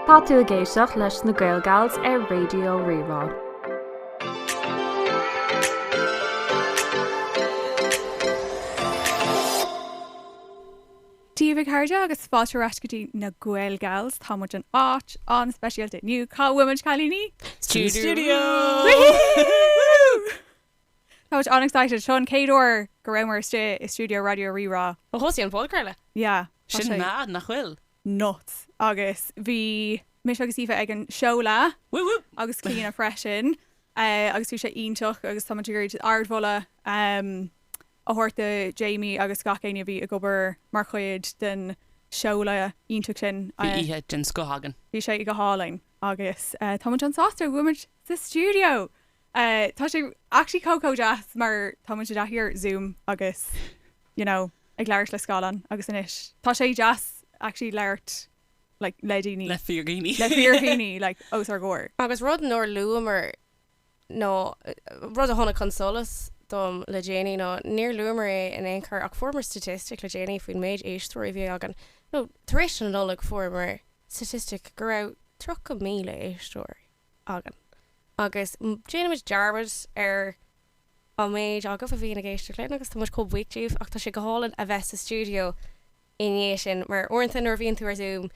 Tá tú ag éisteacht leis na GaelGals ar Raidió Rí-Rá. Dia dhaoibh a chairde agus fáilte ar ais go dtí na GaelGals. Tá muid in áit an-speisialta inniu. Cá bhfuil muid a chailíní? Stiúideo! Woohoo! Woohoo! Táimid an-excited. Seo an chéad uair go rabhamar istigh i stiúideo Raidió Rí-Rá. Ó thosaigh an podchraoladh. Yeah. Sin mad, nach bhfuil? Nuts. Agus bhí mise agus Aoife ag an seoladh Whoop whoop! agus Clíona freisin eh, agus bhí sé iontach agus táimid ag iarraidh ardmholadh em a thabhairt do Jamie agus gach éinne a bhí ag obair mar chuid den seoladh iontach sin. Bhí Eh, oíche den scoth againn. bhí sé go hálainn agus eh, táimid an-sásta go bhfuilimid sa stiúideo! Eh tá sé actually chomh chomh deas mar táimid i dtaithí ar Zoom agus you know ag labhairt le scáileán agus anois tá sé deas actually labhairt like le daoine. Le fíor dhaoine. Le fíor dhaoine like os ár gcomhair. Agus rud nár luamar nó rud a tháinig chun solais dom le déanaí nó níor luamar é in aon chor ach fuaireamar staitistic le déanaí faoin méid éisteoirí a bhí againn nó tar éis an Nollaig fuaireamar staitistic go raibh 30,000 éisteoirí againn agus déanaimid dearmad ar an méid agaibh a bhíonn ag éisteacht linn agus tá muid chomh buíoch díobh ach tá sé go hálainn a bheith sa stiúideo i ndiaidh sin mar uaireanta nuair a bhíonn tú ar Zoom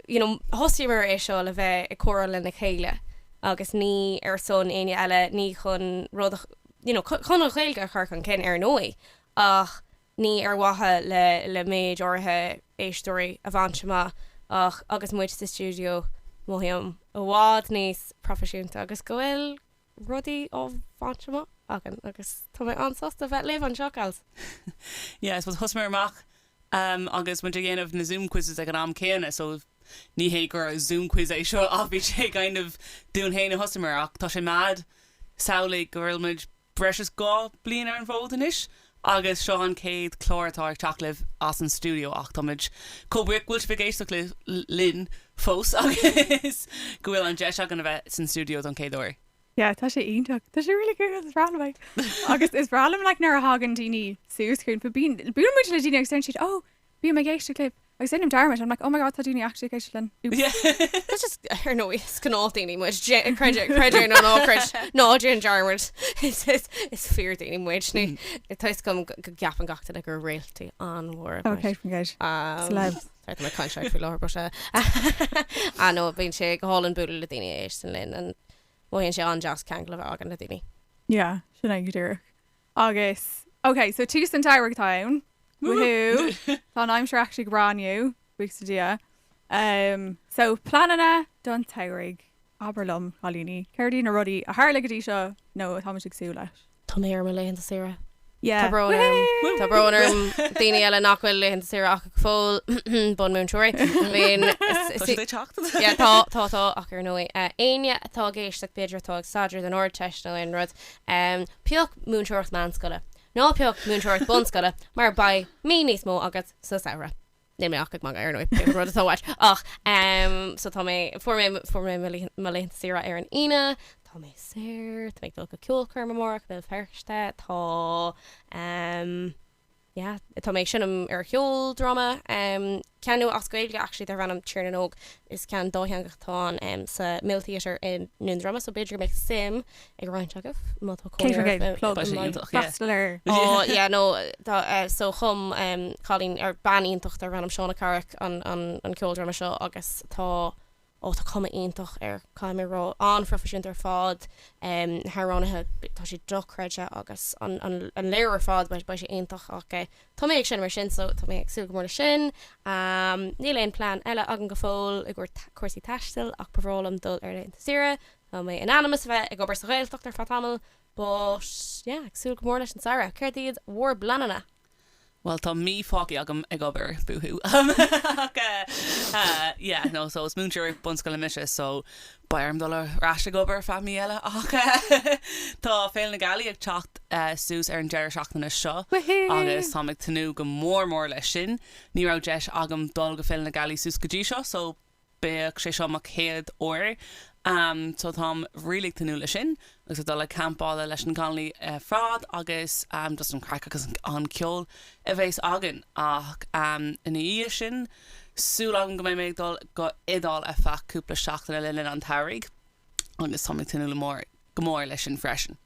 you know thosaíomar é seo le bheith ag comhrá lena chéile agus ní ar son éinne eile, ní chun rud a you know chun an Ghaeilge a chur chun cinn ar ndóigh ach. Ní ar mhaithe le méid áirithe éisteoirí a bhaint amach ach agus muid sa stiúideo mothaím i bhfad níos proifisiúnta agus go bhfuil rudaí á bhaint amach againn agus tá mé an-sásta bheith libh anseo, gals! Yeah I suppose thosaíomar amach agus muid ag déanamh na Zoom quizzes ag an am céanna so ní hé gur Zoom quiz é seo ach bhí sé kind of dúinn féin a thosaíomar ach tá sé mad a shamhlú go bhfuil muid Breis is dhá bliain ar an bhfód anois agus seo an chéad chlár atá ag teacht chugaibh as an stiúideo ach táimid chomh buíoch go bhfuil sibh ag éisteacht linn fós agus go bhfuil an deis againn a bheith san stiúideo don chéad uair. Yeah, tá sé iontach. Tá sé really good. Is aoibhinn liom agus is aoibhinn liom nuair a thagann daoine suas chugainn fiú buaileann muid le daoine agus siad ó Bím ag éisteacht libh agus déanaim dearmad, I'm like, oh my god tá daoine actually ag éisteacht linn, oops. Díreach, ar ndóigh, is gnách daoine muid, creid é nó ná creid, ná déan dearmad, is fíor daoine muid, toisc go gceapann gach duine gur réaltaí an-mhóra muid. Okay, forget, celebs. Tá mé caint faoi láthair ba se. Ah no, bhíonn sé go hálann bualadh le daoine a éisteann linn, mothaíonn sé an-deas ceangal a bheith againn le daoine. Yeah, sin é go díreach. Agus, ok, so tús an tsamhraidh atá ann. Woohoo! Tá an aimsir actually go breá inniu, buíochas le Dia. Em, so pleananna don tsamhraidh. Abair liom, cailíní, céard iad na rudaí a tharla go dtí seo nó atá muid ag súil leis? Tá mé ar mo laethanta saoire. Yeah, Tá brón orm. woohoo! Tá brón orm daoine eile nach bhfuil laethanta saoire acu go fóill, bunmhúinteoirí. I mean, is- Tá is- siad ag teacht. Yeah, tá, tá, tá, ach ar ndóigh, eh, éinne atá ag éisteacht b'fhéidir atá ag staidéar don Ardteist nó aon rud, Pioc múinteoireacht meánscoile ná pioc múinteoireacht bunscoile mar beidh mí níos mó agat sa samhradh? Níl mé ach ag magadh ar ndóigh, pé rud atá uait. Ach so tá mé, fuair mé, fuair mé mo laethe, mo laethanta saoire ar an Aoine, tá mé saor, tá mé ag dul go ceolchoirm amárach i mBéal Feirste, tá. yeah tá mé ag seinm ar cheoldráma em ceann nua as Gaeilge actually darb ainm Tír na nÓg is ceann dátheangach atá ann em sa Mill Theatre i nDún Droma so b'fhéidir go mbeidh suim ag roinnt agaibh má tá cónaí shameless plug tá sé iontach yeah freastal ar oh yeah no tá eh, so chum em cailín ar bean iontach darb ainm Shauna Carrick an an an ceoldráma seo agus tá ó tá cuma iontach air caithfidh mé a rá an-phroifisiúnta ar fad na hamhránaithe tá sé dochreidte agus an léiriú ar fad beidh sé iontach ach tá mé ag seinm mar sin so tá mé ag súil go mór leis sin. Níl aon plean eile agam go fóill i gcomhair cúrsaí taistil ach ba bhreá liom dul ar laethanta saoire tá mé in ainm is a bheith ag obair sa Ghaeltacht ar feadh tamaill but yeah ag súil go mór leis an samhradh. Céard iad bhur bpleananna? Bhuel tá mí fágtha agam ag obair, boo hoo, ach eh yeah no so is múinteoir bunscoile mise so beidh orm dul ar ais ag obair feadh mí eile ach eh tá Féile na Gealaí ag teacht suas ar an deireadh seachtaine seo agus táim ag tnúth go mór mór leis sin. Ní raibh deis agam dul go Féile na Gealaí suas go dtí seo so Beidh sé seo mo chéad uair so táim really ag tnúth leis sin agus ag dul ag campála leis na Conallaigh ar fad agus just an craic agus an ceol a bhéas againn ach ina dhiaidh sin súil agam go mbeidh mé ag dul go Iodáil ar feadh cúpla seachtaine le linn an tsamhraidh agus táim ag tnúth le mór go mór leis sin freisin.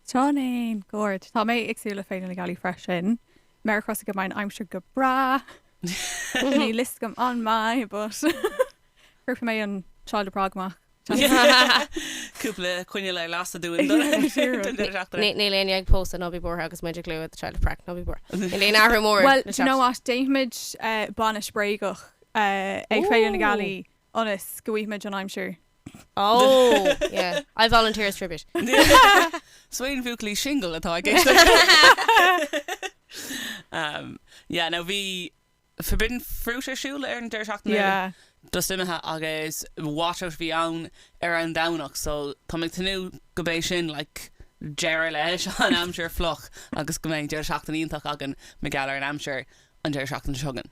Tránnain Ghoirt. Tá mé ag súil le Féile na Gealaí freisin. Méara crosta go mbeidh an aimsir go breá. Níl a fhios agam an mbeidh but cuirfidh mé an Child of Prague amach. Cúpla coinneal ar lasadh dúinn don deireadh seachtaine. Níl éinne ag pósadh ná bí buartha agus muid ag lua The Child of Prague, ná bí buartha. Níl aon athrú mór. Bhuel, do you know what, déanfaimid bainis bréagach ag Féile na Gealaí. ionas go bhfaighimid an aimsir. Oh yeah I volunteer as tribute. Swain Bhuachaillí Singil atá ag éisteacht. Yeah no bhí forbidden fruit ar siúl ar an deireadh seachtaine. Yeah. Díreach imithe agus washout a bhí ann ar an Domhnach so tá mé ag tnúth gurb é sin like deireadh leis an aimsir fliuch agus go mbeidh deireadh seachtaine iontach againn mar gheall ar an aimsir an deireadh seachtaine seo chugainn.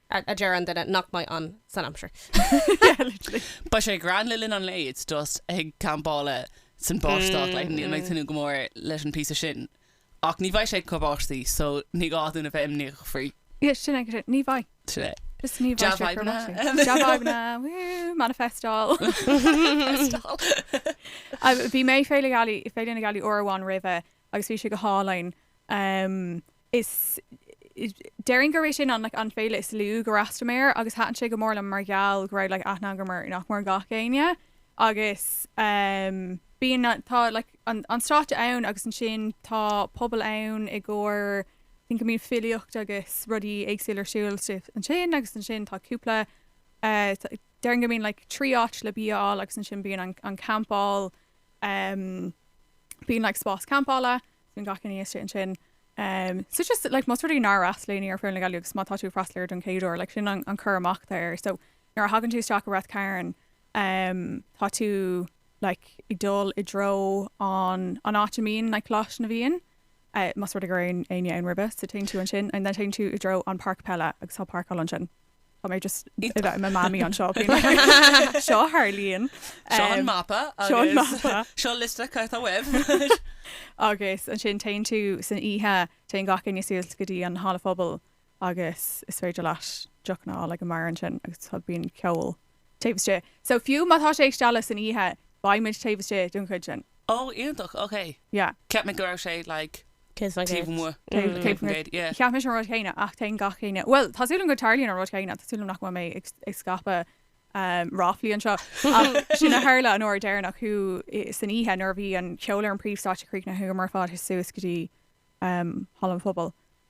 a deir an duine nach mbeidh ann san aimsir. Beidh sé grand le linn an lae, it's just ag campáil san báisteach like níl mé ag tnúth go mór leis an bpíosa sin ach ní bheidh sé chomh báistí so ní gá dúinn a bheith imníoch faoi. Yeah sin é go sin, ní bheidh. Sin é. Just ní Jab bheidh sé chomh fhadhbanna. báistí. Jab fhadhbanna, woo, manifestal. Ah, Bhí mé ag Féile Ghailí, ag Féile na Gealaí uair amháin roimhe agus bhí sé go hálainn. Em, is déarfainn gurb é sin an like an féile is lú gur fhreastail mé air agus thaitin sé go mór liom mar gheall go raibh like aithne agam ar nach mór gach éinne agus em bíonn na tá like an an stáitse ann agus ansin tá puball ann i gcomhair bíonn go mbíonn filíocht agus rudaí éagsúla ar siúl sa ansin agus ansin tá cúpla eh tá déarfainn go mbíonn like trí áit le bia a fháil agus ansin bíonn an an campáil em bíonn like spás campála eh bíonn gach éinne thíos ansin so just like más rud é nár fhreastail éinne ar Féile na Gealaí agus má tá tú ag freastal air don chéad uair like sin an cur amach atá air so nuair a thagann tú isteach i Ráth Cairn um tá tú like ag dul i dtreo an an áit a mbíonn like Coláiste na bhFiann uh más rud é go raibh éinne ann roimhe so téann tú ansin and then téann tú i dtreo an páirc peile agus tá páirceáil ansin. Tá mé just ag bheith i mo Mamaí anseo faoi láthair. Seo a tharlaíonn. Seo an mapa agus seo liosta caith éadaí uaibh. Agus ansin téann tú san oíche, téann gach éinne suas go dtí an halla phobail agus is féidir leat deochanna a fháil ag an mbeár ansin agus tá bíonn ceol taobh istigh. So fiú má tá sé ag stealladh san oíche, beidh muid taobh istigh don chuid sin. Oh, iontach, okay. Yeah. Cheap mé go raibh sé like Taobh an taobh gcéad. amuigh, Taobh taobh an an gcéad. gcéad, yeah. Cheap mé an rud chéanna ach téann gach éinne, bhuel tá súil agam go dtarlaíonn an rud chéanna, tá súil agam nach bhfuil mé ag ag scaipeadh ehm ráflaí anseo ach sin a tharla an uair dheireanach chuaigh san oíche nuair a bhí an cheol ar an bpríomhstáitse críochnaithe chuamar ar fad suas go dtí ehm Halla an Phobail.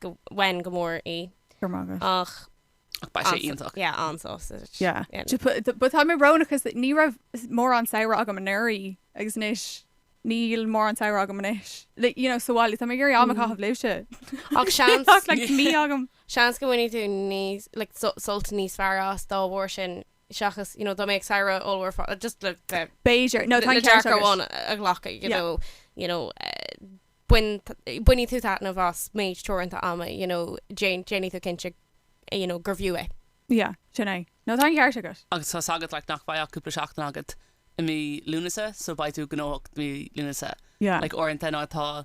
Bainfidh mé go mór í. Go raibh maith agat. Ach. Ach beidh sé iontach. Yeah, an-sásaimh. Yeah. But tá mé brónach 'cause ní raibh mórán saoire agam anuraidh agus anois níl mórán samhraidh agam anois. Like, you know, sa bhaile, tá mé ag iarraidh am a chaitheamh libhse. Ach seans. Tá like mí agam. Seans go mbainfidh tú níos, like, sult níos fearr as dá bharr sin seachas, you know, dá mbeadh samhradh ollmhór fá, just le, le, B'fhéidir. No, tá an ceart agat. le dearcadh amháin a ghlacadh, you know, you know, eh, bain, bainfidh tú taitneamh as méid teoranta ama you know déan, déanfaidh tú cinnte you know gurbh fhiú é. Yeah, sin é. No, tá an ceart agat. Agus tá 's agat like nach bheidh ach cúpla seachtain agat i mí Lúnasa so beidh tú gnóthach mí Lúnasa Yeah. like uaireanta nuair atá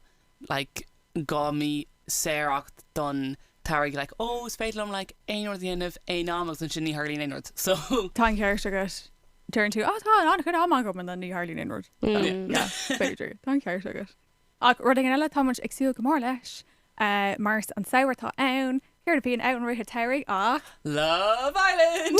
like dhá mí saor agat don Tar ag like, oh is féidir liom like aon rud a dhéanamh aon am agus ansin ní tharlaíonn aon rud. So. Tá an ceart agat. Deireann tú ah tá an-chuid am agam and then ní tharlaíonn aon rud. So yeah, b'fhéidir. Tá an ceart agat. Ach rud éigin eile tá muid ag súil go mór leis mar is an samhradh atá ann, céard a bhíonn ann i rith a' tsamhraidh ach Love Island!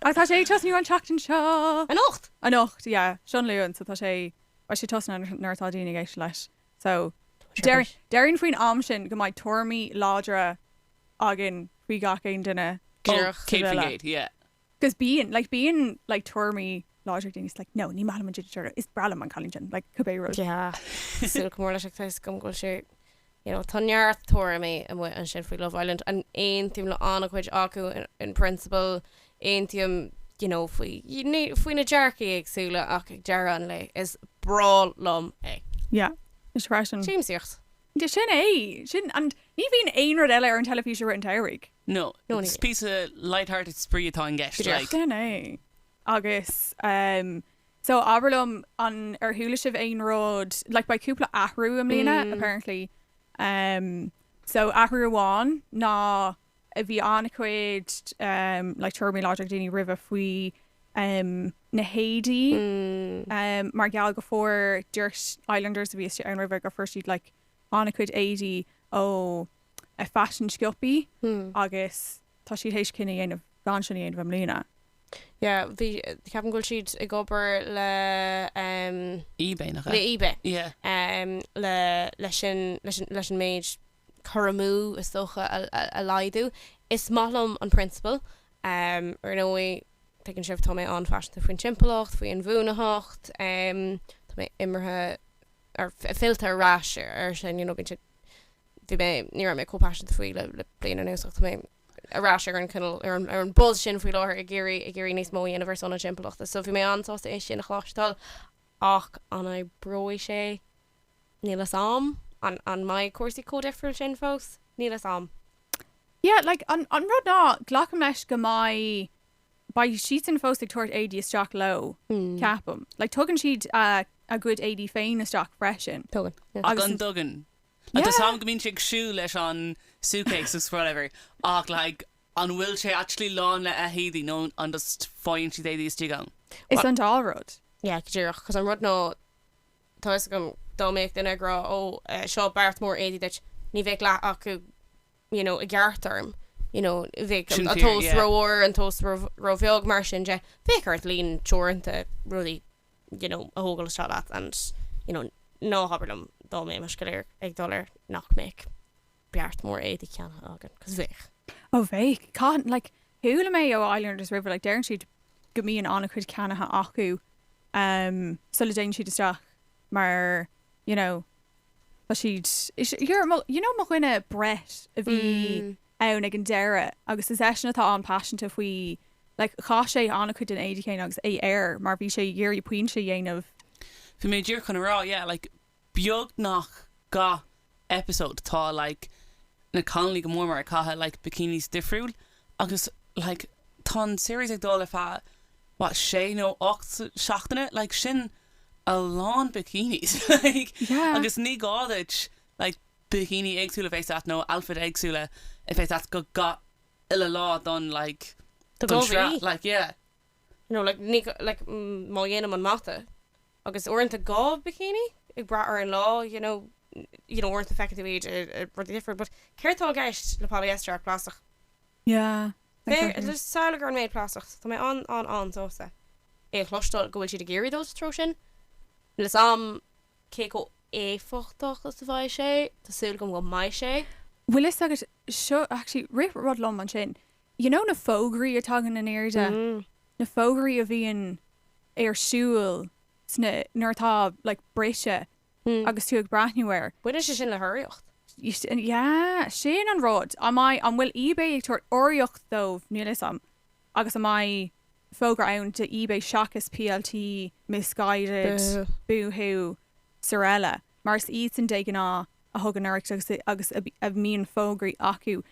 Agus tá sé ag tosnú an tseachtain seo. Anocht? Anocht yeah seo an Luan so tá sé beidh sé tosnaithe nuair atá daoine ag éisteacht leis so déarfainn faoin am sin go mbeidh tuairimí láidre againn faoi gach aon duine. Díreach. Céad faoin gcéad yeah. 'Cos bíonn, like, bíonn, like, tuairimí láidre ag daoine is like, 'No, ní maith liom an dude seo or, is breá liom an cailín sin, like, cibé rud. Yeah, súil go mór leis tá 's agam go bhfuil sé, you know, tá neart tuairimí amuigh ansin faoi Love Island and aontaím le an-chuid acu in principle, aontaím, you know, faoi, ní, faoi na dearcaí éagsúla ach ag deireadh an lae is breá liom é. Yeah, mise freisin. Siamsaíocht. Yeah, sin é, sin, and ní bhíonn aon rud eile ar an teilifís i rith an tsamhraidh. No, it's píosa light-hearted spraoi atá i gceist, like. Sin é. Agus ehm so abair liom an ar chuala sibh aon rud like beidh cúpla athrú i mbliana apparently ehm so athrú amháin ná a bhí an-chuid ehm like tuairimí láidre ag daoine roimhe faoi ehm na héadaí ehm mar gheall go fuair dúirt Islanders a bhí istigh ann roimhe go fuair siad like an-chuid éadaí ó faisean sciobtha agus tá siad théis cinneadh a dhéanamh gan sin a dhéanamh i mbliana. Yeah bhí ceapaim go bhfuil siad ag obair le em. Ebay nach ea? Le Ebay yeah em le le sin leis leis an méid cur amú is dócha a laghdú. Is maith liom an prionsabal em ar ndóigh tuigeann sibh tá mé an-phaiseanta faoin timpeallacht faoi inbhuanaitheacht em tá mé imithe or fillte ar ais air sin you know bíonn siad bhí mé ní raibh mé chomh paiseanta faoi le le bliain anuas ach tá mé ar ais ar an cineál ar an ar an buzz sin faoi láthair ag iarraidh ag iarraidh níos mó a dhéanamh ar son na timpeallachta so bhí mé an-sásta é sin a chloisteáil ach an oibreoidh sé níl fhios a'm an an mbeidh cúrsaí chomh difriúil sin fós níl fhios a'm. Yeah like an an rud ná glacaim leis go mbeidh beidh siadsan fós ag tabhairt éadaí isteach leo ceapaim. Like tugann siad a gcuid éadaí féin isteach freisin. Tugann, yeah. An dtugann? Yeah. Tá fhios a'm go mbíonn siad ag siúl leis an suitcase agus whatever ach like an bhfuil sé actually lán le h-éadaí nó an just faigheann siad éadaí istigh ann? Is an dá rud. Yeah, go díreach, Yeah. Cause an rud ná tá fhios agam dá mbeadh duine ag rá oh seo beart mór éadaí duit ní bheadh leath acu you know i gceart dom you know bheadh an tomhas rómhór an tomhas róbheag mar sin de bheadh ort líon teoranta rudaí you know a thógáil isteach leat and you know ná habair liom dá mbeimis go léir ag dul ar nach mbeadh beart mór éadaí ceannaithe againn cos bheadh. Ó bheadh. Cá like Chuala mé ó Islanders riamh, like, deireann siad go mbíonn an-chuid ceannaithe acu ehm sula dtéann siad isteach mar you know tá siad you know mo dhuine Brett a bhí ann ag an deireadh agus is eisean atá an-phaiseanta faoi like chaith sé an-chuid den éide chéanna agus é air mar bhí sé ag iarraidh pointe a dhéanamh Bhí mé díreach chun a rá yeah like beagnach gach episode tá like na cailíní go mór mór ag caitheamh like bikinis difriúil agus like tá an series ag dul ar feadh what sé nó ocht seachtaine like sin a lán bikinis like yeah agus ní gá duit like bikini éagsúil a bheith a't nó outfit éagsúil a bheith a't do gach uile lá don like don tsraith like yeah nó like ní like má dhéanaim an mata agus uaireanta dhá bikini ag brath ar an lá you know you know uaireanta feiceann tú iad i rudaí difriúil but céard tá i gceist le polyester ach plastach? Yeah, exactly. Féach, samhlaigh gur an méid plastach, tá mé an an an sásta é a chloisteáil go bhfuil siad ag iarraidh dul sa treo sin níl fhios a'm cé chomh éifeachtach is a bheidh sé, tá súil agam go mbeidh sé. Bhfuil fhios agat, seo actually rith rud liom ansin, you know na fógraí a tagann in airde, na fógraí a bhíonn ar siúl sna, nuair atá like briseadh agus tú ag breathnú air. Baineann sé sin le hurraíocht? Yeah, sin an rud. An mbeidh, an bhfuil eBay ag tabhairt urraíocht dóibh, níl 'fhios a'm, agus an mbeidh fógra ann do eBay seachas PLT, Missguided, Boohoo, Sorella, mar is iadsan de ghnáth a thugann urraíocht agus, agus a mbíonn fógraí acu.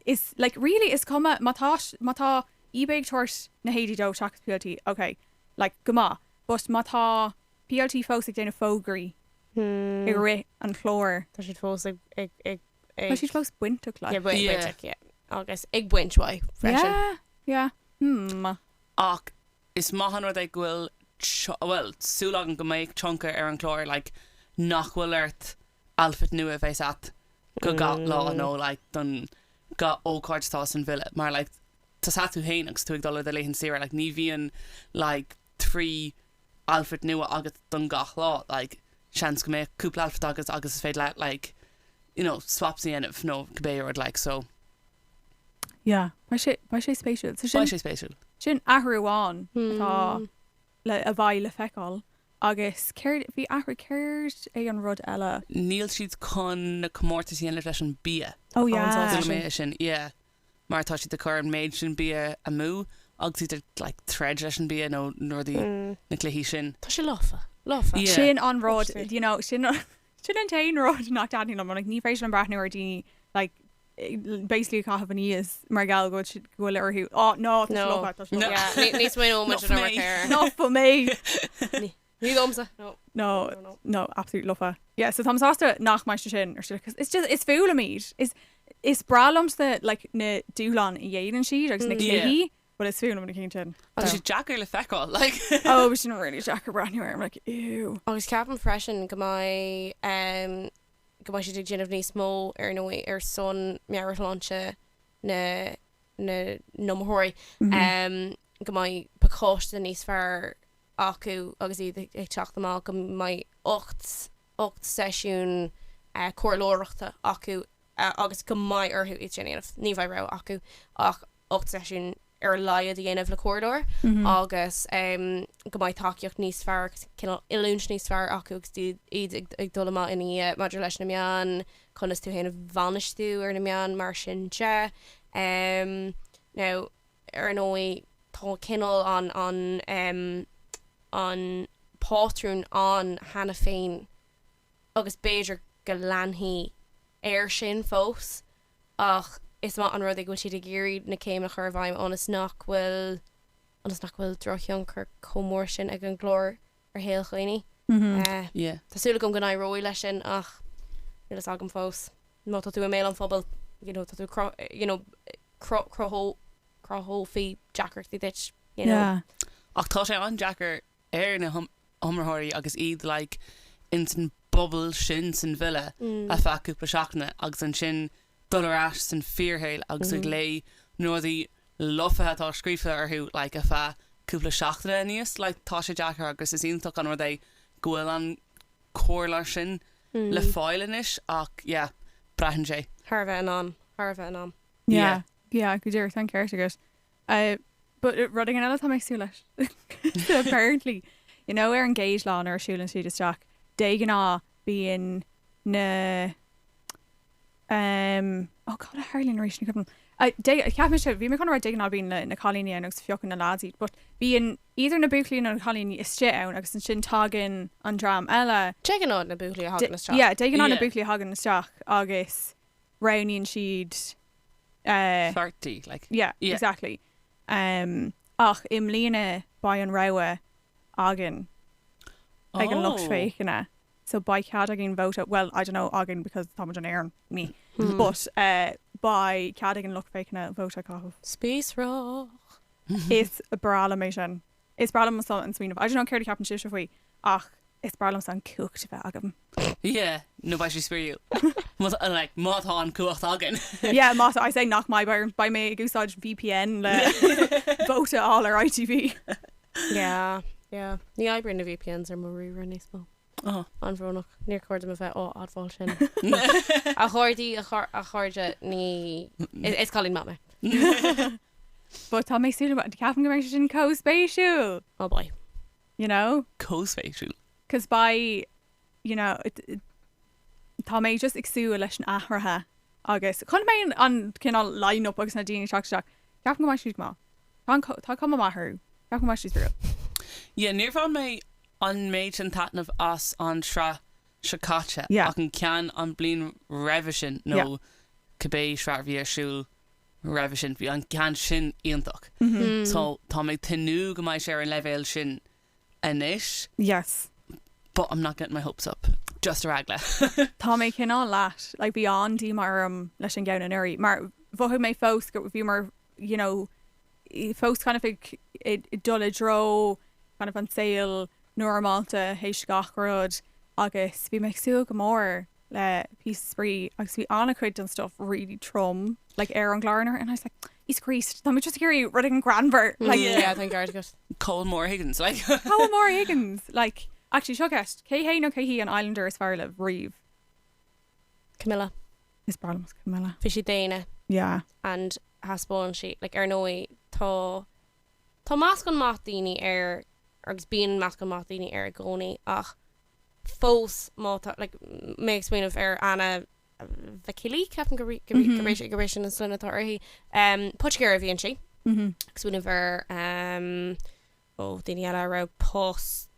is like really is cuma má tá má tá ebay ag tabhairt na héadaí dóibh seachas plt ok like go maith but má tá plt fós ag déanamh fógraí i hmm rith an chláir tá siad fós ag ag ag tá siad fós bainteach yeah like bainteach yeah agus ag baint uaidh freisin yeah yeah hmm ach is maith an rud é go bhfuil well súil agam go mbeidh tionchar ar an chlár like nach bhfuil ort outfit nua a bheas agat do gach lá nó like don gach ócáid atá san villa mar like tá a fhios agat féin agus tú ag dul ar do laethan saoire like ní bhíonn like trí outfit nua agat don gach lá like seans go mbeadh cúpla outfit agat agus is féidir leat like you know swaps a dhéanamh nó cibé rud like so. Yeah. Beidh sé beidh sé spéisiúil. So sin beidh sé spéisiúil. sin athrú amháin atá le a bheidh le feiceáil. Agus bhí athrú, céard é an rud eile? níl siad chun na comórtais a dhéanamh leis an bia. Ó yeah. Chuala mé sin. Mar tá siad ag cur an méid sin bia amú agus iad ag like troid leis an bia nó na rudaí, na cluichí sin. Tá sé lofa, lofa. Yeah. Sin an rud, you know, sin an. Sin an t-aon rud nach dtaitníonn liom. Like ní féidir liom breathnú ar daoine like basically ag caitheamh aníos mar gheall go bhfuil siad, go bhfuil orthu, ó no, no. Níos mó nó much I don't care. Not for me! Ní domsa, no. No, No, no, no. no, absolute lofa. Yeah, so tá mé sásta nach mbeidh sé sin ar siúl because it's just, it's full of meat. Is, is breá liomsa like na dúshláin a dhéanann siad agus na Yeah. cluichí But is fuath liom na cinn sin. Tá sé deacair le feiceáil, like. Oh, bhí sin really deacair breathnú air, I'm like, ew. Agus ceapaim freisin go mbeidh, go mbeidh siad ag déanamh níos mó, ar ndóigh, ar son meabhairshláinte na, na n-iomaitheoirí. Go mbeidh pacáiste níos fearr acu agus iad ag teacht amach, go mbeidh ocht, ocht seisiún comhairleoireachta acu agus go mbeidh orthu iad sin a dhéanamh. Ní bheidh rogha acu ach 8 seisiún ar a laghad a dhéanamh le comhairleoir agus go mbeidh tacaíocht níos fearr agus cineál oiliúint níos fearr acu agus iad ag dul amach ina dhiaidh. Maidir leis na meáin, conas tú féin a bhainistiú ar na meáin mar sin de. Now, ar ndóigh, tá cineál an, an, an pátrún ann cheana féin agus b'fhéidir go leanfaidh air sin fós ach is maith an rud é go bhfuil siad ag iarraidh na céimeanna a chur i bhfeidhm ionas nach bhfuil ionas nach bhfuil drochthionchar chomh mór sin ag an gclár ar shaol daoine. Tá súil agam go n-éireoidh leis sin ach níl a fhios agam fós. Má tá tú i mbéal an phobail you know tá tú you know cruthófaí deacrachtaí duit you know. Ach tá sé an-deacair ar na hiomaitheoirí agus iad like insan bubble sin san villa ar feadh cúpla seachtaine agus ansin dul ar ais san fíor shaol agus ag léigh na rudaí lofa atá scríofa fúthu like ar feadh cúpla seachtaine aníos like tá sé deacair agus is iontach an rud é go bhfuil an comhairleoir sin le fáil anois ach yeah braitheann sé. Thar a bheith in ann, thar a bheith in ann. Yeah, yeah, go díreach, tá an ceart agat. Uh, but rud éigin eile atá mé ag súil leis. Apparently, you know, ar an gcéad lá nuair a siúlann siad isteach, de ghnáth bíonn na, um, oh cad a tharlaíonn arís ní cuimhin. Uh, de, cheap mé seo, bhí mé chun a rá de ghnáth bíonn na, na cailíní ann agus piocann na lads iad, but bíonn either na buachaillí nó na cailíní istigh ann agus ansin tagann an dream eile. De ghnáth na buachaillí a thagann isteach. Yeah, de ghnáth na buachaillí a thagann isteach agus. roghnaíonn siad a pháirtí like yeah yeah exactly em ach i mbliana beidh an rogha againn ag an lucht féachana so beidh cead againn vóta bhuel I don't know againn because táimid in Éirinn ní but eh beidh cead ag an lucht féachana vóta a chaitheamh. Spíosrach. Is breá liom é sin. Is breá liomsa an smaoineamh. I don't know céard a cheapann sibhse faoi ach is breá liomsa an cumhacht a bheith agam. Yeah, no, beidh sé spraíúil. Like má tá an cumhacht againn. Yeah, má tá, I say nach mbeidh, beidh mé ag úsáid VPN le vote a fháil ar ITV. Yeah, yeah. Ní oibríonn na VPNs ar mo router níos mó. An-bhrónach, níor chóir dom a bheith á admháil sin. A chairde, a chairde, ní, is cailín maith mé. But tá mé súil, ceapaim go mbeidh sé sin comh spéisiúil. Oh beidh. You know? Comh spéisiúil. 'Cause beidh, you know, tá mé just ag súil leis an athruithe agus chun go mbeidh an cineál line-up agus na daoine ag teacht isteach, ceapaim go mbeidh siad go maith. Tá cuma maith orthu. Ceapaim go mbeidh siad spraíúil. Yeah, níor bhain mé An méid sin taitneamh as an sraith seo caite ach an ceann an bliain roimhe sin nó cibé sraith a bhí ar siúl roimhe sin, bhí an ceann sin iontach so tá mé ag tnúth go mbeidh sé ar an leibhéal sin anois but I'm not getting my hopes up, just ar eagla. Tá mé cineál leat, like bhí an-díomá orm leis an gceann anuraidh mar mhothaigh mé fós go bhíomar you know, fós kind of ag dul i dtreo kind of an saol normálta théis gach rud agus bhí mé ag súil go mór le píosa spraoi agus bhí an-chuid den stuff really trom like ar an gclár anuraidh and I was like Jesus Christ, tá muid just ag iarraidh rud éigin greannmhar like. Yeah, thank God for that. Cá bhfuil Maura Higgins like. Cá bhfuil Maura Higgins like. Actually, seo ceist, cé hé nó cé hí an islander is fearr libh riamh? Camilla. Is breá liom Camilla. Bhí sí daonna. Yeah. And thaispeáin sí, like, ar ndóigh tá, tá meascán maith daoine air agus bíonn meascán maith daoine air i gcónaí ach fós má tá, like, mé ag smaoineamh ar Anna Vakili, ceapaim gurb é sin an sloinne atá uirthi. Poitigéir a bhíonn sí. Ag smaoineamh ar ó dhaoine eile a raibh post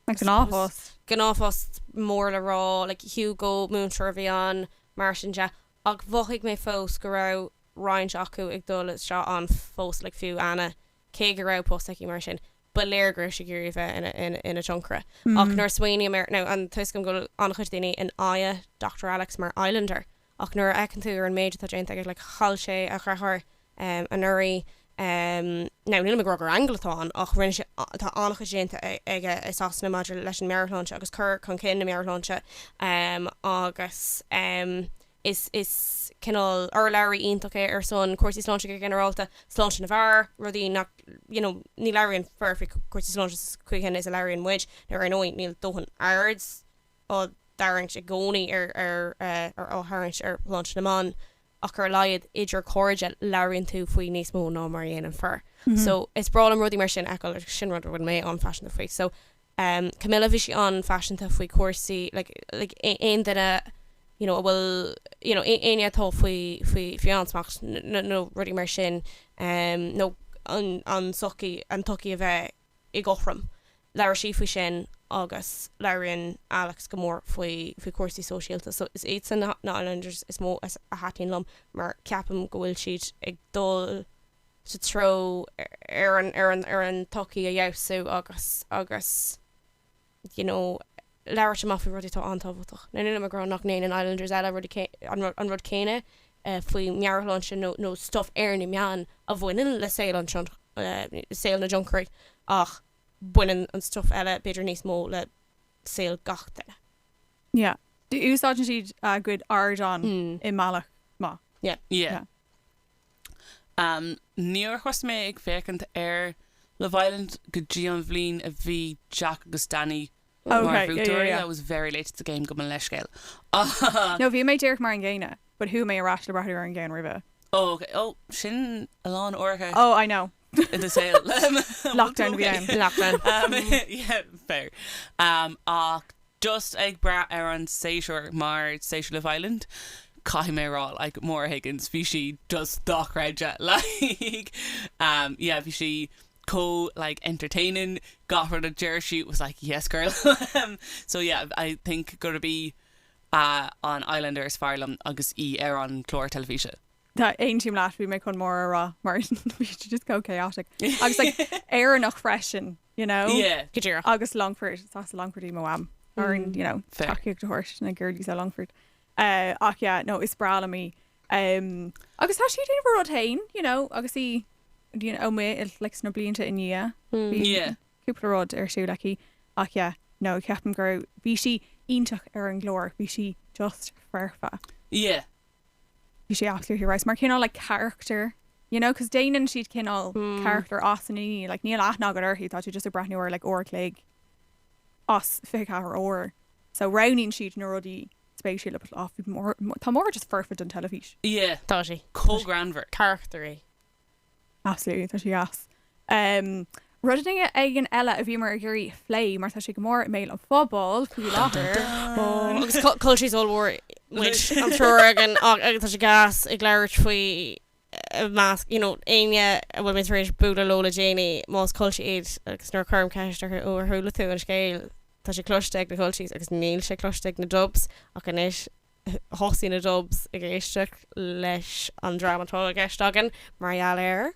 acu, gnáthphost. gnáthphost mór le rá, like Hugo, múinteoir a bhí ann, mar sin de, ach mhothaigh mé fós go raibh roinnt acu ag dul seo ann fós, like fiú Anna, cé go raibh post aici mar sin, ba léir go raibh sí ag iarraidh a bheith ina, ina, ina tionchaire. Ach nuair a smaoiním ar, now, an, tuigim go bhfuil an-chuid daoine in aghaidh Doctor Alex mar islander, ach nuair a fheiceann tú ar an méid atá déanta aige, like chaill sé a dheartháir anuraidh, now nílim ag rá gur aingeal atá ann ach rinne sé, tá an-chuid déanta aige i Sasana maidir leis an meabhairshláinte agus cur chun cinn na meabhairshláinte agus is is cineál urlabhraí iontach é ar son cúrsaí sláinte go ginearálta, sláinte na bhfear, rudaí nach, you know ní labhraíonn fir faoi chúrsaí sláinte sa chaoi chéanna is a labhraíonn muid, now ar ndóigh níl dóthain aird, á tarraingt i gcónaí ar á tarraingt ar shláinte na mban ach ar a laghad idir cairde labhraíonn tú faoi níos mó ná mar a dhéanann fir so is breá liom rudaí mar sin a fheiceáil agus sin rud a bhfuil mé an-phaiseanta faoi so em Camilla bhí sí an-phaiseanta faoi chúrsaí like like aon duine you know a bhfuil you know éinne atá faoi faoi faoi ansmacht nó rudaí mar sin em nó an an sochaí an tsochaí a bheith i gcothrom. Labhair sí faoi sin agus labhraíonn Alex go mór faoi chúrsaí sóisialta. So is iadsan na Islanders is mó a thaitníonn liom mar ceapaim go bhfuil siad ag dul sa treo ar an tsochaí a fheabhsú agus you know labhairt amach faoi rudaí atá an-tábhachtach. Now nílim ag rá nach ndéanann Islanders eile an rud céanna faoi mheabhairshláinte nó nó stuff ar na meáin a bhaineann le saol an saol na dtionchairí ach baineann an stuff eile b'fhéidir níos mó le saol gach duine. Yeah. Úsáideann siad a gcuid ardán i mbealach maith. Yeah. Yeah. Níor thosaigh mé ag féachaint ar Love Island go dtí an bhliain a bhí Jack agus Danny mar bhuaiteoirí. I was very late to the game, gabh mo leithscéal. No, bhí mé díreach mar an gcéanna but chuaigh mé ar ais le breathnú ar an gceann roimhe. Oh, ok. Oh, sin a lán uaireanta. Oh, I know. i ndeireadh an lae lockdown bhí ann lockdown yeah fair ach just ag brath ar an séasúr mar séasúr Love Island caithfidh mé a rá like Maura Higgins bhí sí just dochreidte like yeah bhí sí chomh like entertaining gach rud a deir sí was like yes girl so yeah I think gurb í an Islander is fearr liom agus í ar an chlár teilifíse. Tá mé ar aon intinn leat, bhí mé chun mór a rá mar bhí tú just chomh chaotic agus like Éireannach freisin you know? Yeah. Go díreach. Agus Longford, is as Longford í mo Mham so orainn you know Fair. tacaíocht a thabhairt do na girlies as Longford. Eh ach yeah no is breá liom í. Em agus tá sí ag déanamh a ruda féin you know agus í do- you know i mo like sna blianta i ndiaidh bhí Yeah. cúpla rud ar siúl aici ach yeah no ceapaim go raibh, bhí sí iontach ar an gclár, bhí sí just foirfe. Yeah. Bhí sé absolutely right mar cineál like character you know cos déanann siad cineál character as aon duine like níl aithne agat uirthi tá tú just ag breathnú ar like uair an chloig as 24 uair so roghnaíonn siad na rudaí spéisiúla but oh bhí Máire tá Máire just foirfe don teilifís. Yeah. Tá sí. chomh greannmhar. Carachtar í. Absolutely, tá sé deas. Rud éigin eile a bhíomar ag iarraidh a phlé mar tá sé go mór i mbéal an phobail faoi láthair. Ó, agus cu- culchies ollmhór muid an triúr againn ach tá sé gas ag labhairt faoi i measc, you know, éinne a bhfuil mé tar éis bualadh leo le déanaí, más culchie iad agus nuair a cuirim ceist orthu, ó ar chuala tú an scéal, tá sé cloiste ag na culchies agus níl sé cloiste ag na Dubs ach anois, Thosaigh na Dubs ag éisteacht leis an dream atá i gceist againn mar gheall ar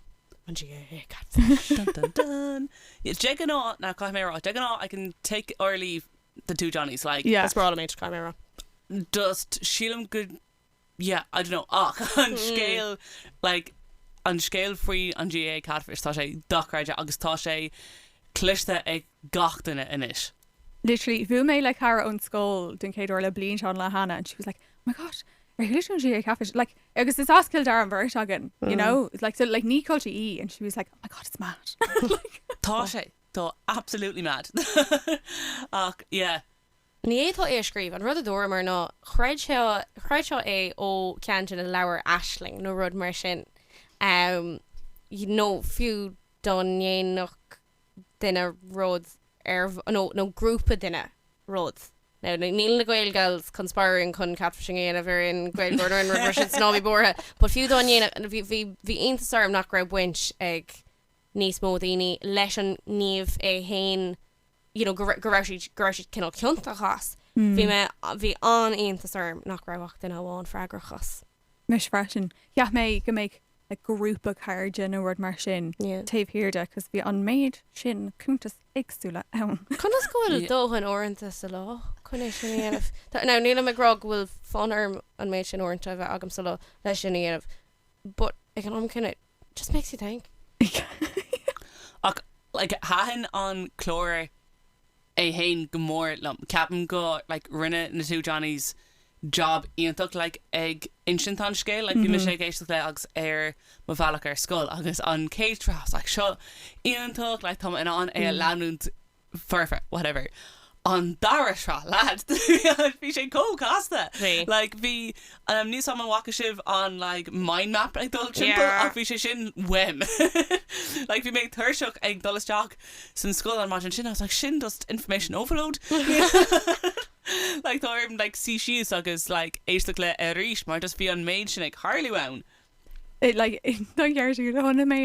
an GAA Catfish. Dun dun dun. De ghnáth, now caithfidh mé a rá, de ghnáth I can take or leave the two Johnnies, like. Is breá liom iad, caithfidh mé a rá. just sílim go, yeah, I don't know, ach an scéal, like, an scéal faoi an GAA Catfish, tá sé dochreidte agus tá sé cloiste ag gach duine anois. literally bhuail mé le cara ón scoil den chéad uair le blianta an lá cheana and she was like oh my god ar chuala tú an GAA Catfish like agus is as Cill Dara an bheirt againn you know like so like ní culchie í and she was like oh my god it's mad like Tá sé Tá absolutely mad ach yeah Ní fhéadfá é a scríobh. An rud a dúramar ná chreidfeá é ó ceann de na leabhair Aisling nó rud mar sin, nó fiú dá ndéanfadh duine rud ar nó nó grúpa duine rud now níl na Gaelgals conspiring chun catfishing a dhéanamh ar aon Gaeilgeoir nó aon rud mar sin ná bí buartha but fiú dá ndéanfadh bhí bhí bhí iontas orm nach raibh baint ag níos mó daoine leis an ngníomh é fhéin you know go raibh go raibh siad go raibh siad cineál ciontach as bhí mé bhí an-iontas orm nach raibh ach duine amháin freagrach as. Mise freisin, cheap mé go mbeadh like grúpa cairde nó rud mar sin Yeah. taobh thiar de 'cause bhí an méid sin cuntas éagsúla ann. Conas go bhfuil Yeah. dóthain uaireanta sa lá chun é sin a dhéanamh? Tá- Now nílim ag rá go bhfuil fonn orm an méid sin uaireanta a bheith agam sa lá leis sin a dhéanamh but ag an am céanna It just makes you think. Ach, like, thaitin an clár é fhéin go mór liom. Ceapaim go, like, rinne na Two Johnnies job iontach, like, ag insint an scéil. Like, bhí mise ag éisteacht leis agus ar mo bhealach ar scoil agus an chéad sraith, I was like, seo iontach, like, tá mé in ann é a leanúint perfect, whatever. An dara sraith, lad! Bhí sé chomh casta! Bhí. Like, bhí, um, níl fhios agam an bhfaca sibh an like mind map ag dul timpeall? Yeah. Ach bhí sé sin uaim. Like, bhí mé tuirseach ag dul isteach san scoil an maidin sin, I was like, sin just information overload. Like, tá orm like suí síos agus like éisteacht le arís mar just bhí an méid sin ag tarlú ann. Chonaic mé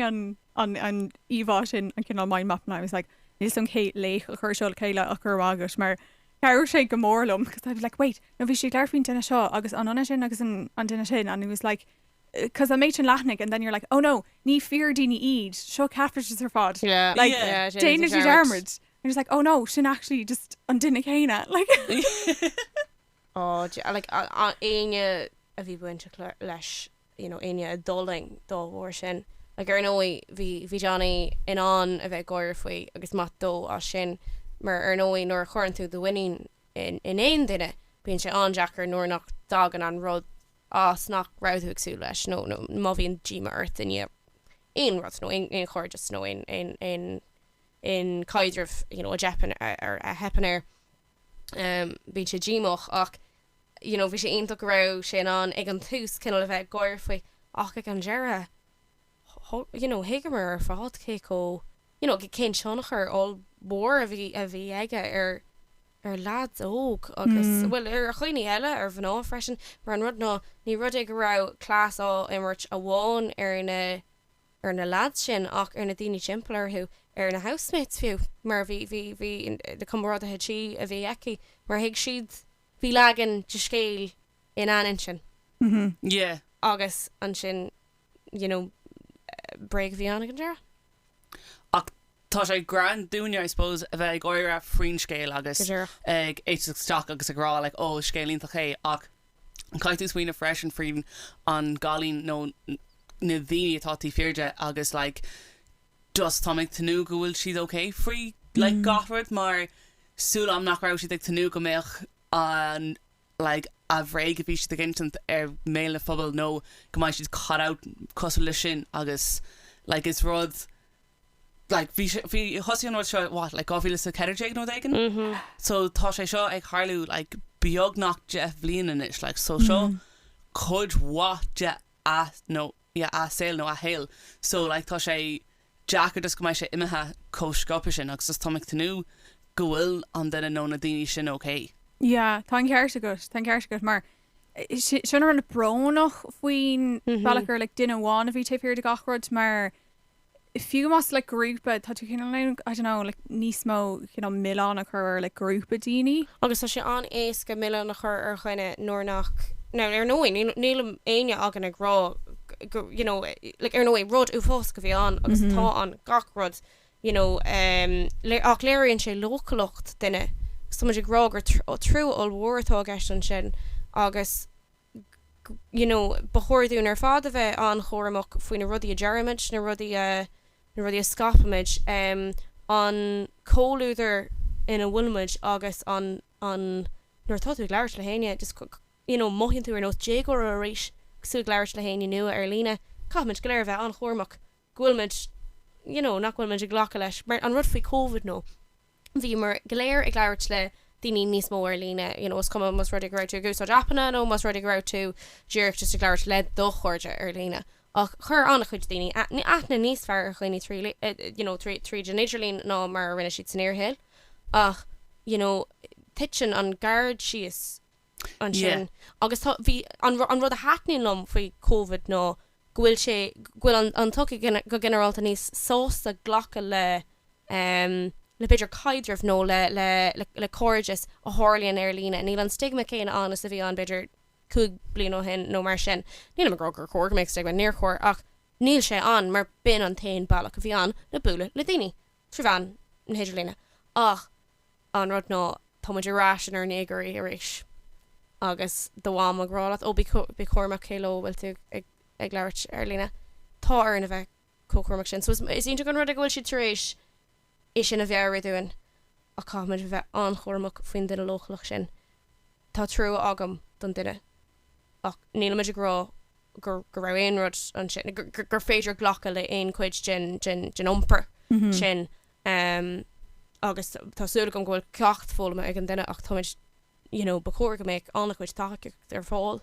an íomhá sin, an cineál mind map, and I was like níl a fhios agam cén laoch a chuir seo le chéile ach go raibh maith agat mar chabhraigh sé go mór liom because I was like wait no bhí sí ag labhairt faoin duine seo agus an ionann sin agus an duine sin and it was like because an méid sin leathanach and then you're like oh no ní fíor daoine iad seo catfishes ar fad yeah like yeah, yeah déanann siad dearmad and it was like oh no sin actually just an duine céanna like éinne a bhí bainteach leis you know éinne a d'fhulaing dá bharr sin like ar ndóigh bhí bhí Johnny in ann a bheith ag gáire faoi agus maith dó as sin mar ar ndóigh nuair a chuireann tú do mhuinín in in aon duine bíonn sé an-deacair nuair nach dtagann an rud as nach raibh tú ag súil leis nó nó má bhíonn díoma ort i ndiaidh aon rud nó aon aon chairdeas nó aon aon aon aon caidreamh you know a dteipeann a theipeann air. bíonn sé díomách ach you know bhí sé iontach go raibh sé in ann ag an tús cineál a bheith ag gáire faoi ach ag an deireadh you know thuigeamar ar fad cé chomh you know cén tionchar ollmhór a bhí a bhí aige ar ar leaids óga agus bhuel ar dhaoine eile ar mhná freisin mar an rud ná ní rud é go raibh cleas á imirt amháin ar na ar na leaids sin ach ar na daoine timpeall orthu, ar na housemates fiú mar bhí, bhí, bhí na comrádaithe tí a bhí aici mar thuig siad, bhí leagan de scéal in an intinn yeah. Agus ansin you know bréag a bhí ann ag an deireadh. Ach tá sé grand dúinne I suppose a bheith ag gáire faoin scéal agus ag éisteacht isteach agus ag rá like oh is scéal iontach é ach Caithfidh tú smaoineamh freisin faoin an gcailín nó na daoine atá taobh thiar de agus like just tá mé ag tnúth go bhfuil siad ok faoi like gach rud mar tá súil agam nach raibh siad ag tnúth go mbeadh an like an bhréag a bhí siad ag insint ar mbéal an phobail nó go mbeidh siad caught out cosúil le sin agus like is rud like bhí sé bhí thosaigh an rud seo what like 2014 nó rud éigin so tá sé seo ag tarlú like beagnach deich bhliain anois like so seo cuid mhaith de a nó yeah a saol nó a shaol so like tá sé deacair just go mbeidh sé imithe chomh sciobtha sin agus just tá mé ag tnúth go bhfuil an duine nó na daoine sin okay. Yeah tá an ceart agat tá an ceart agat mar sin tá mé an-bhrónach faoi ar bhealach gur ar like duine amháin a bhí taobh thiar de gach rud mar fiú más like grúpa, tá tú cineál in ann I don't know like níos mó cineál milleán a chur ar like grúpa daoine. Agus tá sé an-éasca milleán a chur ar dhuine nuair nach now ar ndóigh níl níl éinne againn ag rá you know like ar ndóigh rud uafásach a bhí ann agus atá ann gach rud you know em ach léiríonn sé leochaileacht duine 's tá muid ag rá gur trua ollmhór atá i gceist ansin agus you know ba chóir dúinn ar fad a bheith an-chúramach faoi na rudaí a deirimid, na rudaí a, na rudaí a scaipimid, em, an comhluadar ina bhfuilimid agus an, an, nuair atá tú ag labhairt le héinne, just go, you know mothaíonn tú ar nós déagóra arís agus tú ag labhairt le héinne nua ar líne. Caithfimid go léir a bheith an-chúramach go bhfuil muid, you know, nach bhfuil muid ag glacadh leis, mar an rud faoi Covid ná bhíomar go léir ag labhairt le daoine níos mó ar líne, you know, is cuma más rud é go raibh tú ag úsáid aipeanna nó más rud é go raibh tú díreach just ag labhairt le do chairde ar líne. Ach chuir an-chuid daoine aithne níos fearr ar dhaoine trí, you know, trí, tríd an idirlíon ná mar a rinne siad san fhíorshaol ach, you know, titeann an gard síos ansin agus tá, bhí, an rud a thaitníonn liom faoi Covid ná go bhfuil sé, go bhfuil an an tsochaí go ginearálta níos sásta glacadh le le b'fhéidir caidreamh nó le le le cairdeas a tharlaíonn ar líne. Níl an stigma céanna ann is a bhí ann b'fhéidir cúig bliana ó shin nó mar sin. Nílim ag rá gur chóir go mbeadh stigma, níor chóir, ach níl sé ann mar b'in an t-aon bealach a bhí ann le bualadh le daoine, trí mheán na hidirlíne. Ach. An rud ná, tá muid ar ais inár ndéagóirí arís. Agus do mham ag rá leat 'Ó, bí cúramach cé leo a bhfuil tú ag labhairt ar líne'. Tá orainn a bheith chomh cúramach sin. So is iontach an rud é go bhfuil siad tar éis é sin a mheabhrú dúinn ach caithfimid a bheith an-chúramach faoin duine leochaileach sin. Tá trua agam don duine ach nílimid ag rá go raibh aon rud ansin, gur féidir glacadh le haon chuid den iompar sin. em agus tá súil agam go bhfuil ceacht foghlama ag an duine ach táimid you know ba chóir go mbeadh an-chuid tacaíocht ar fáil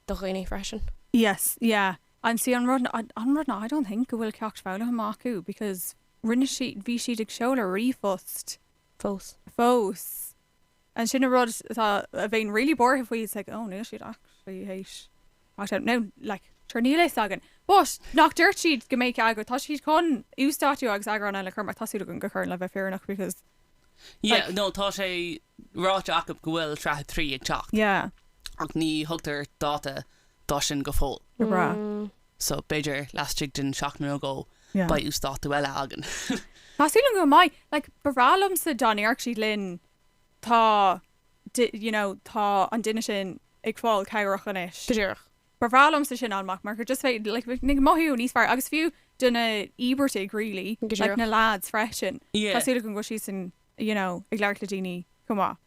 do dhaoine freisin. Yes yeah and see an rud ná an rud ná I don't think go bhfuil ceacht foghlama acu because rinne bhí siad ag seoladh ríomhphost fós fós Ansin an rud atá, a bhím really buartha faoi is like oh níl siad actually théis watch out now like sure níl a fhios againn but nach dúirt siad go mbeadh eagrú, tá siad chun uasdátú agus eagrán eile a chur amach tá súil agam go gcuireann le bheith fírinneach because yeah like, no tá sé ráite acu go bhfuil sraith 3 ag teacht yeah ach ní thugtar dáta dá sin go fóill. Go breá. so b'fhéidir laistigh de sheachtain nó dhó beidh uasdátú eile againn. Tá súil agam go mbeidh. Like ba bhreá liomsa dá ndéarfadh siad linn tá you know tá an duine sin ag fáil cabhrach anois. Go díreach. Ba bhreá liomsa sin a fháil amach mar gur just bheith like bheinn ag mothú níos fearr agus fiú do na híobartaigh really like na lads freisin tá súil agam go bhfuil siadsan you know ag labhairt le daoine chomh maith.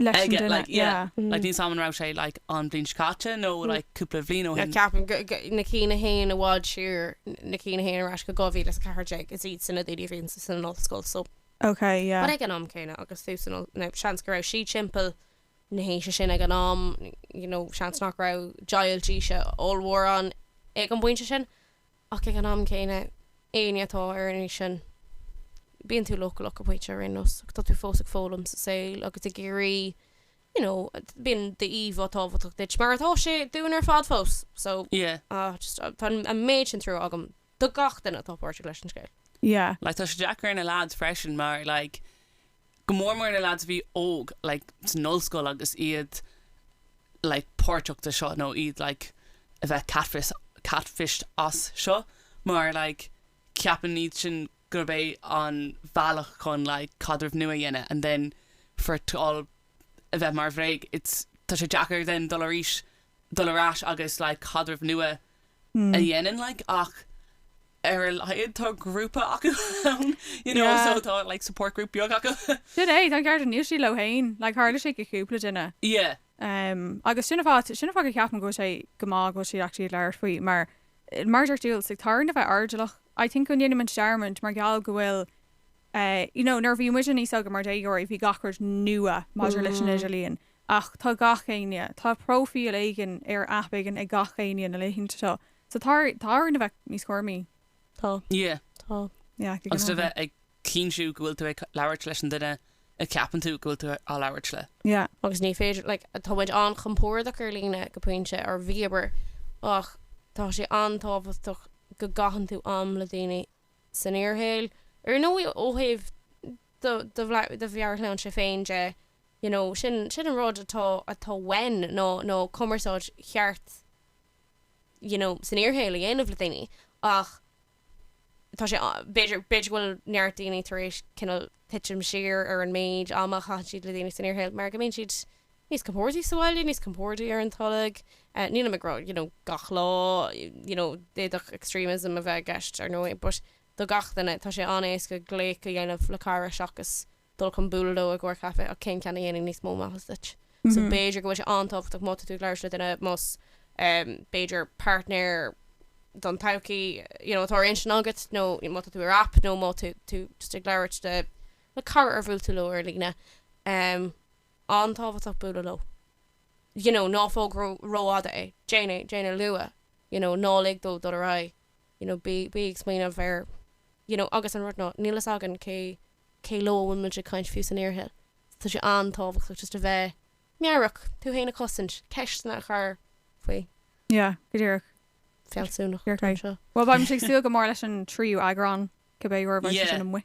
leis an duine, yeah. Like níl a fhios agam an raibh sé like an bhliain seo caite nó like cúpla bhliain ó shin. Ceapaim na cinn a théann i bhfad siar, na cinn a théann ar ais go 2014, is iad sin na daoine a bhí san ollscoil so. Okay, yeah. But ag an am céanna agus tú san no, seans go raibh siad timpeall na haoise sin ag an am, you know, seans nach raibh deighilt aoise ollmhór ann ag an bpointe sin. ach ag an am céanna éinne atá ar an aois sin bíonn tú leochaileach go pointe ar aon nós agus tá tú fós ag foghlaim sa saol agus ag iarraidh you know bíonn d'íomhá tábhachtach duit mar atá sé dúinn ar fad fós so Yeah. ah just ah, tá an méid sin trua agam do gach duine atá páirteach leis an scéal. Yeah. Like tá sé deacair ar na lads freisin mar like go mór mór na lads a bhí óg like san ollscoil agus iad like páirteach de seo nó iad like a bheith catfished as seo mar like ceapann siad sin gurb é an bhealach chun like caidreamh nua a dhéanamh and then for it to all a bheith mar bhréag it's tá sé deacair then dul arís dul ar ais agus like caidreamh nua a a dhéanamh like ach ar a laghad tá grúpa acu ann you know yeah so tá like support group beag acu. Sin é, tá an ceart, níl siad leo féin, like tharla sé do cúpla duine. Yeah. Umm agus sin an fáth, sin an fáth go ceapaim go bhfuil sé go maith go bhfuil siad actually ag labhairt faoi mar mar a dúirt tú, it's like tá orainn a bheith airdeallach. I think go ndéanann muid dearmad mar gheall go bhfuil eh you know nuair a bhí muide níos óga mar déagóirí bhí gach rud nua maidir leis an idirlíon Ach tá gach éinne, tá próifíl éigin ar aip éigin ag gach éinne na laethanta seo. So tá orainn a bheith níos cúramaí. Tá. Yeah. Tá. Yeah, go ginearálta. Agus do bheith ag cinntiú go bhfuil tú ag labhairt leis an duine a cheapann tú go bhfuil tú ag labhairt leis. Yeah. Agus ní féidir, like, tá muid an-chompordach ar líne go pointe, ar bhealach, ach tá sé an-tábhachtach go gcaitheann tú am le daoine san fhíorshaol. Ar ndóigh ó thaobh do, do, do mheabhairshláinte féin de, you know sin sin an rud atá atá uainn nó nó cumarsáid cheart you know san fhíorshaol a dhéanamh le daoine ach tá sé b'fhéidir b'fhéidir go bhfuil neart daoine tar éis cineál titim siar ar an méid ama a chaitheann siad le daoine san fhíorshaol mar go mbíonn siad níos compordaí sa bhaile, níos compordaí ar an tolg. Nílim ag rá you know gach lá you know d'fhéadfadh extremism a bheith i gceist ar ndóigh but do gach duine tá sé an-éasca glaoch a dhéanamh le cara seachas dul chun bualadh leo i gcomhair caife ach cén ceann a dhéanann níos mó maitheas duit. So b'fhéidir go bhfuil sé an-tábhachtach má tá tú ag labhairt le duine más b'fhéidir partner don todhchaí you know atá ar intinn agat nó má tá tú ar aip nó má tá tú just ag labhairt le le cara ar bhuail tú leo ar líne em an-tábhachtach bualadh leo you know ná fág ró-fhada é, déan é, déan é luath you know ná lig dó dul ar aghaidh. you know, bí, bí ag smaoineamh ar, you know, agus an rud ná, níl fhios againn cé, cé leo a bhfuil muid ag caint fiú san fhíorshaol. Tá sé an-tábhachtach just a bheith meabhrach, tú fhéin a chosaint ceisteanna a chur faoi. Yeah, go díreach. Fealsúnach, an t-am seo. Bhuel, beidh muid ag súil go mór leis an tríú eagrán, cibé uair a bheidh sé sin amuigh.